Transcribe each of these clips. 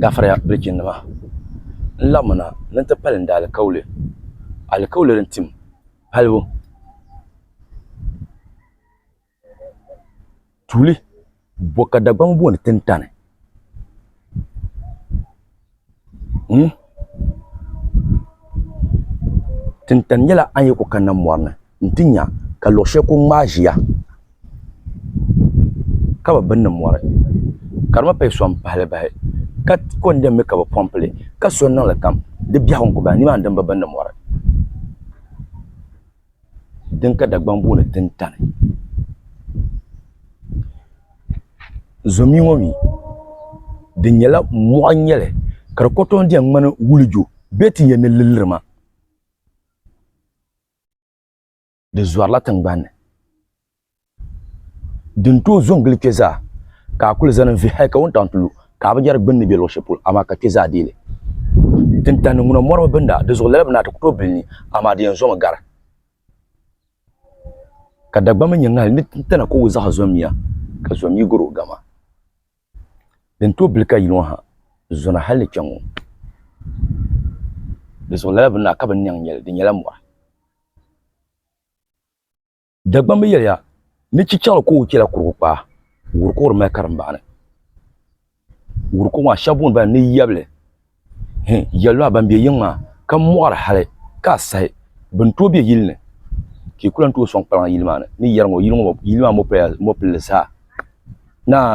Gafara yaa bilichinnima, n laɣimmi na ni n ti pali n daalikauli, alikauli din tim palibu tuuli bo ka Dagbaŋ booni tintani. Tintani nyɛla a ni yi ku kanna mɔri ni. n ti nya ka luɣ shɛli ku ŋmaai ʒiya ka bi bini ni mɔri, ka di mi pali sɔŋ pahili bahi, ka ko n din mi ka bi pɔmpi li, ka so n niŋ li kam di biɛhigu n-ku bahi, nimaani din bi bini ni mɔri. Din ka Dagbaŋ booni Tintani. Zomia ŋɔ mi, di nyɛla mɔɣu n-nyɛ li, ka di kotoon di yɛn ŋmani wulijo bee ti yɛn ni lilirima. di zɔrila tingbanni din tooi zo n gili kpɛ zaa ka a kuli zani n vihi hali ka wuntaŋ ti lu ka a bi yɛri gbunni bɛ luɣu shɛli polo amaa ka kpɛ zaa deei li tin tandi ŋuna mɔri bi binda di zuɣu lala bi naa ti ku tooi bili ni amaa di yɛn zomi gari ka Dagbamba nyɛ ŋahi ni tana ka o zaɣa zom ya ka zom yi gari o gama. Din tooi bili ka yi ŋɔ ha zɔna hal ni kpe ŋɔ. Di zuɣu lala bi naa ka binniɛŋ nyɛ li, di nyɛla mɔri. Dagbamb bi yɛliya ni chichaɣili kooi chɛla kurigu kpaa, wuriko di mali karimbaɣi ni. Wuriko maa shɛba booni ba ni yabili. Hi yɛli lu a ban be yiŋ maa ka m mɔɣiri hali ka a sahi bɛ ni tooi be yili ni ka yi ku lan tooi sɔŋ kpalaŋa yili maa ni ni yɛri ŋɔ yili maa mɔpaya mɔpilli zaa naa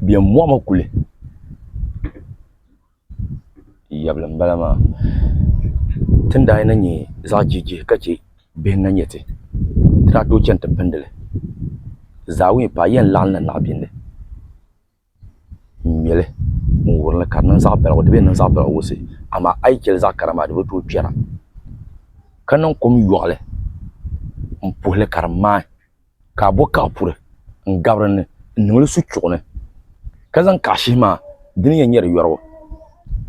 bɛn mɔɣimi kuli yabili m-bala maa. Ti ni daa yɛn na nya zaɣ jihijihi ka chɛ bihi ni na nya ti ti daa tooi chani ti pindi li zaawumi paai yi yɛn laɣim na naɣibiɛnli. n ŋmɛli n wuhiri ni ka di niŋ zaɣ baligu di bi yɛn niŋ zaɣ baligu wusɛ amaa a yi chɛli zaɣ kara maa di bi tooi kpɛra ka niŋ kom yoɣali n puhuli ka di maai ka a bo kaɣa puri n gabi dinni n niŋli su chuɣu ni ka zaŋ kaɣa shihi maa di ni yɛn nyɛri yorigu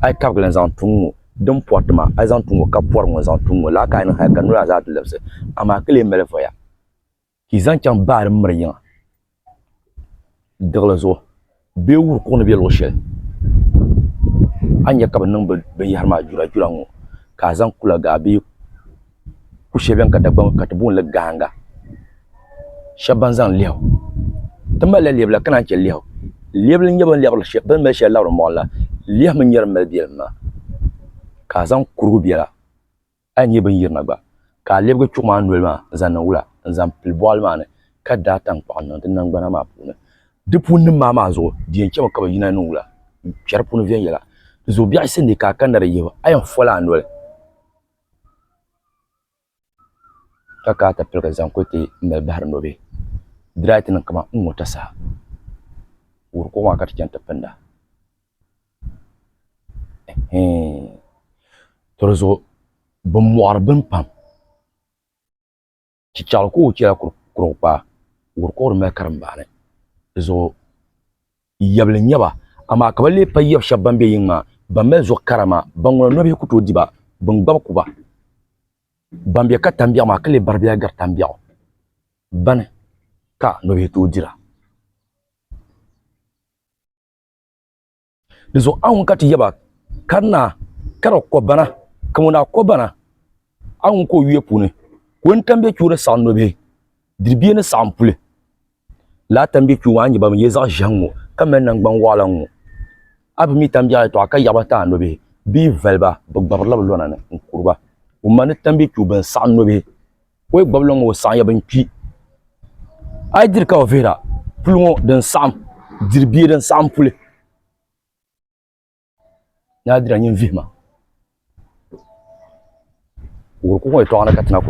a yi kabigili n zaŋ tuŋ ŋɔ din poriti maa a yi zaŋ tuŋ ŋɔ ka pori ŋɔ n zaŋ tuŋ ŋɔ lala ka a ni niŋ hali ka nolaa zaa ti labisi amaa ka lee mali voya ka yi zaŋ chaŋ baa din miri yiŋa diɣili zuɣu bee wuhi kuɣu ni bɛ luɣ shɛli a ni nya ka bɛ niŋ binyɛhiri maa jurajura ŋ-ŋɔ ka a zaŋ kulagaa bee ku shɛli beni ka Dagbamba ka ti booni li gahiŋga shɛba ban zaŋ lɛhu ti mali la lɛbila ka naan che lɛhu lɛbila n-nyɛ bɛ ni mali shɛli labiri mɔɣu ni la lɛhu mi n-nyɛ din mali bɛlim maa ka a zaŋ kurigu bela A ni nyɛ bɛ ni yirina gba, ka a lebigi chuɣu maa noli maa n-zaŋ niŋ wula n-zaŋ pili bɔɣili maa ni, ka daai taŋkpaɣu n-niŋ di naŋgbana maa puuni. Di puuninim maa maa zuɣu di yɛn chɛmi ka bɛ yina niŋ wula n-kpɛri puni viɛnyɛla. Di zuɣu biɛɣu yisi ni ka a kanna di yihibu, a yɛn fol a noli, ka ka a ti piligi zaŋ kuli ti mali bahiri nɔbihi. Di daa yi ti niŋ kaman n ni ŋɔ tasaha, wuhiri kuɣu maa ka ti chani ti pinda. To di zuɣu bi mɔɣiri bini pam chichaɣu ka o chɛla kurugu kpaa wuhiri ka o di mali karimbaani di zuɣu yabili n nyɛba amaa ka bi lee payi yabi shɛba ban bɛ yiŋa maa ban mali zuɣu kara maa ban ŋuna nɔbihi ku tooi di ba bin gbabi ku ba ban bɛ katiŋ biɛɣu maa ka lee bari bi ya gari taŋ biɛɣu bani ka nɔbihi tooi dira. Di zuɣu a ŋun ka ti yaba ka di naa ka di kɔ bana ka ŋun daa kɔ bana a ŋun ka o yuya puuni ka o ni tambiɛ kpiu di saɣim nobihi diribiɛ ni saɣim puli laa tambiɛ kpiu ŋɔ a ni ban yɛ zaɣ ʒiɛhi ŋɔ ka mali nangban waɣila ŋɔ a bi mi tambiɛɣu yɛtɔɣa ka yaɣiba ti a nobihi bee valiba bi gbabirila bi lɔna ni n-kuri ba ŋun ma ni tambiɛ kpiu bɛn saɣim nobihi O yi gbabili ŋɔ o saɣiya bin kpi a yi diri ka o vihira puli ŋɔ din saɣim diri bia din saɣim puli ni a dira nyin vihima wuhiri ku ŋɔ yɛtɔɣa ni ka ti na ku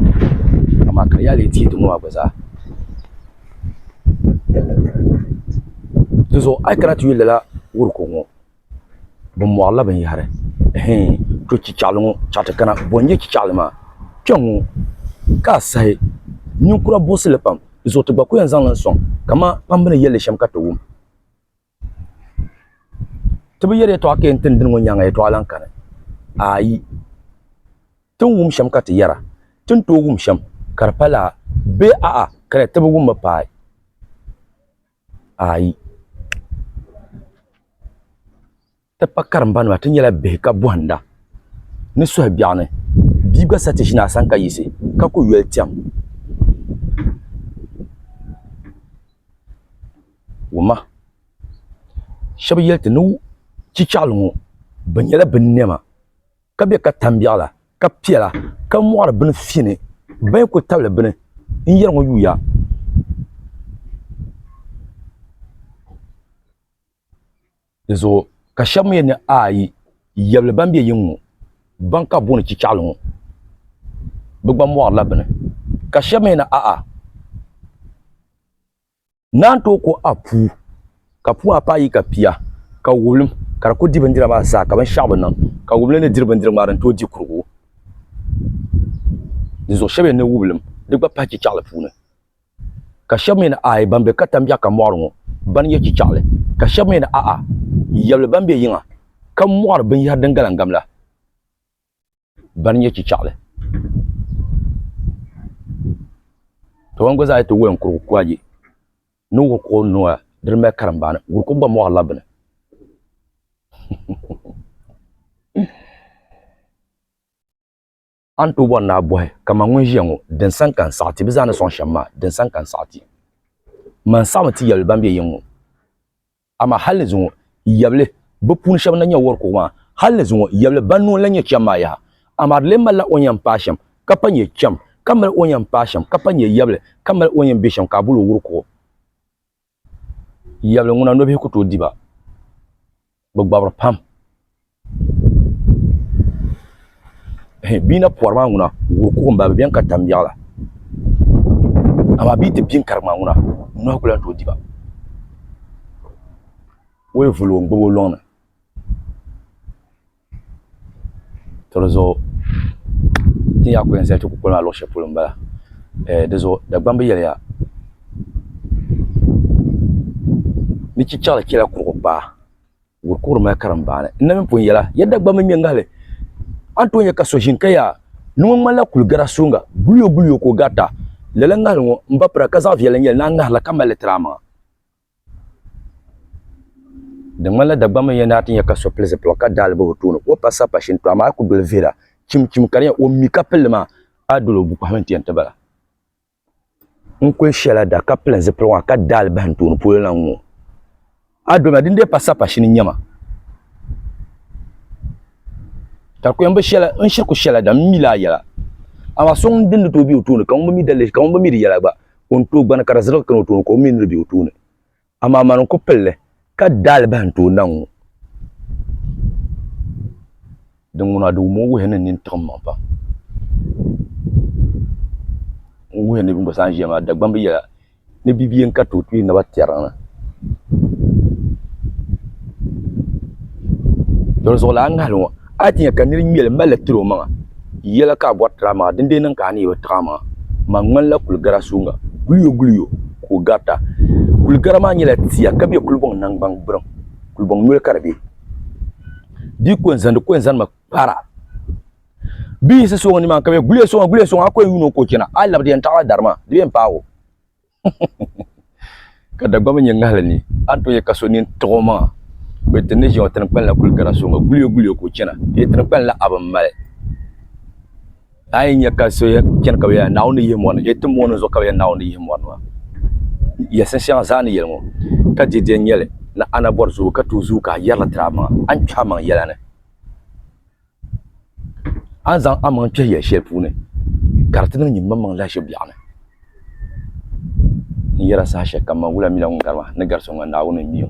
amaa ka yaali yi ti yi ti ŋɔ maa gba zaa dinzuɣu a yi kana ti yuli lala wuhiri ku ŋɔ bi mɔɣirila binyɛhiri hee to chichaɣila ŋɔ chaɣ ti kana bɔ n-nyɛ chichaɣila maa kpɛŋŋɔ ka a saha ninkura buɣisi li pam di zuɣu ti gba kul yɛn zaŋ li n-sɔŋ kaman kpamba ni yɛli li shɛm ka ti wum ti bi yɛri yɛtɔɣa ka yɛn ti ni dini ŋɔ nyaaŋa yɛtɔɣa lahi kani ayi ti ni wum shɛm ka ti yɛra ti ni tooi wum shɛm ka di pali a bee a'a ka di ti bi wum mi paai. ayi ti pa karimba nima ti nyɛla bihi ka bohanda ni suhu biɛɣu ni bia gba sa ti ʒini a sani ka yiɣisi ka ku yoli tɛm woma shab yɛli ti ni chichaɣali ŋo bi nyɛla bin niɛma ka be katambiɣu la ka piɛla ka mɔɣiri bini fini bayi kuli tabili bini n yɛri ŋɔ yuya di zuɣu ka shɛba mi yɛli ni ayi yɛbili ban be yiŋɔ ban ka bɛ booni chichaɣili ŋɔ bɛ gba mɔɣiri la bini ka shɛba mi yɛli ni a'a. Naan tooi ko a puu, ka puu maa paai yi ka pia, ka wublim ka di ku di bindira maa zaa, ka binshɛɣu bi niŋ ka wublim ni diri bindirigu maa din tooi di kurigu. Dinzuɣu shɛb yɛn ni wublim di gba pahi chichɛɣili puuni, ka shɛb mi ni aai ban be katambiɛɣu ka mɔɣiri ŋɔ ba ni yɛ chichɛɣili, ka shɛb mi ni a'a yɛbli ban be yiŋa ka mɔɣiri binyɛhiri din galim gam la. ban nyɛ chichaɣili ka ban gba zaa ti woli n kuri kuɣa ayi ni wuhi kuɣu n nua di ni mali karimbaani wuri kuɣu gba moɣarila bini a ni tooi bori ni a bohi kamani ŋun ʒiya ŋo din sani ka n saɣi ti bi zaa ni soŋ shɛm maa din sani ka n saɣi ti man saɣami ti yɛli ban bɛ yiŋ ŋo Amaa hal ni zuŋɔ yɛbili bɛ puuni shɛba ni nya wɔr kuɣu maa, hal ni zuŋɔ yɛbili ban nuu n-lan nyɛ cham maa yaha. Amaa di lee malila o ni yɛn paai shɛm ka pa nyɛ cham, ka mali o ni yɛn paai shɛm ka pa nyɛ yɛbili, ka mali o ni yɛn be shɛm ka a bol o wur kuɣu. Yɛbili ŋuna nɔbihi ku tooi di ba, bɛ gbabiri pam. Bia na pɔri maa ŋuna wuhi kuɣu n bala bi bɛni ka tam yaɣa la amaa bia ti pini karigi maa ŋuna nɔhi ku lan tooi diba o yi vuli o n gbubi o lɔŋni to di zuɣu ti ni yɛa ku yɛn zali ti kukoli maa luɣu shɛli polo n bala di zuɣu Dagbaŋ bi yɛliya ni chichaɣili chɛla kurugu kpaa. Gur kuɣuri mali karimbaani. N na mini pun yɛla, ya Dagbaŋ mini Nyɛŋahili, a ni tooi nya ka so ʒini ka yaa ni ŋɔ ŋmanila kuli gara suŋga, guliyo guliyo ka o garita. Lala ŋahili ŋɔ m ba pira ka zaɣ viɛlli n-nyɛ li ni a ŋahiri la ka mali li tiri a maŋa. Di ŋmanila Dagbaŋ mini ya ni a ti nya ka so pili zipiligu ka daai li bahi o tooni ka o pa sapa shini, tɔ amaa a ku doli vihira chim chim ka di nyɛ o mi ka pili li maa, a doli o bukpahi mini ti yɛn ti bala. n-kuli shɛla da ka pili zipiligu maa ka da alibahi n-tooi ni polo lan ŋ-ŋɔ. A dɔna, dindee pa sapashin n-nyɛ ma. Ka kuyam bi shɛla, n shiri kuli shɛla da, m mi la a yɛla. Amaa so ŋun dini ni tooi be o tooni, ka ŋun bi mi di yɛla gba, ka o ni tooi gbani ka di zirigi kani o tooni, ka o mi ni di be o tooni. Amaa mani n-ku pili li ka daalibahi n-tooi na ŋ-ŋu. Din ŋun a di wum o wuhi ni nini tiɣim maŋ pam. N wuhi ni bɛ ni gba saanʒiya maa Dagbamba yɛla ni bɛ bi yɛn ka tooi kpiri naba tɛriŋ na. Doli zuɣulana ŋahili ŋɔ. A ti nya ka nir ŋmɛli malli tir o maŋa yɛla ka a bɔri tir a maŋa, dindee niŋ ka a ni yi bi tiɣ a maŋa. Man ŋmanila kul gara suuŋa, guliyoguliyo ka o garita. Kul gara maa nyɛla tia ka be kulibɔŋ naŋgbaŋ gburiŋ, kulibɔŋ noli ka di be. Di yi kɔŋ zani, di kɔŋ zanimi kpara. Bɛ yiɣisi sooŋa nimaani ka bɛ, Guliya sooŋa, guliya sooŋa, a kɔŋ yuun o ka o chana, a yi labi di yɛn taɣila dari maa, di be m-paag o. ka dagbamba nyɛ ŋahili ni a ni tooi ka so nini tiɣi o maŋa bɛ ti ni ʒiɛŋ tiŋkpani la kuli gari soŋ guliyo guliyo ka o chana dee tiŋkpani la abi mali a yi nya ka so chana ka bɛ yɛli Naawuni ni yihi mɔri ni dee ti mɔni zuɣu ka bɛ yɛli Naawuni ni yihi mɔri ni maa yɛlisiŋ shɛŋa zaa ni yɛli ŋɔ ka diridiɛn nyɛli ni a na bɔri zuu ka tuui zuu ka a yɛrili tiri a maŋa a ni kpɛhi a maŋa yɛla ni a ni zaŋ amaŋ kpɛhi ya shɛli puuni ka di ti niŋ nyinimaŋmaŋ lahiʒibu biɛɣu ni. N yɛra saha shɛli kam maa, wula mi la ŋun gari ma ni gari so ŋɔ, Naawuni n-mi o.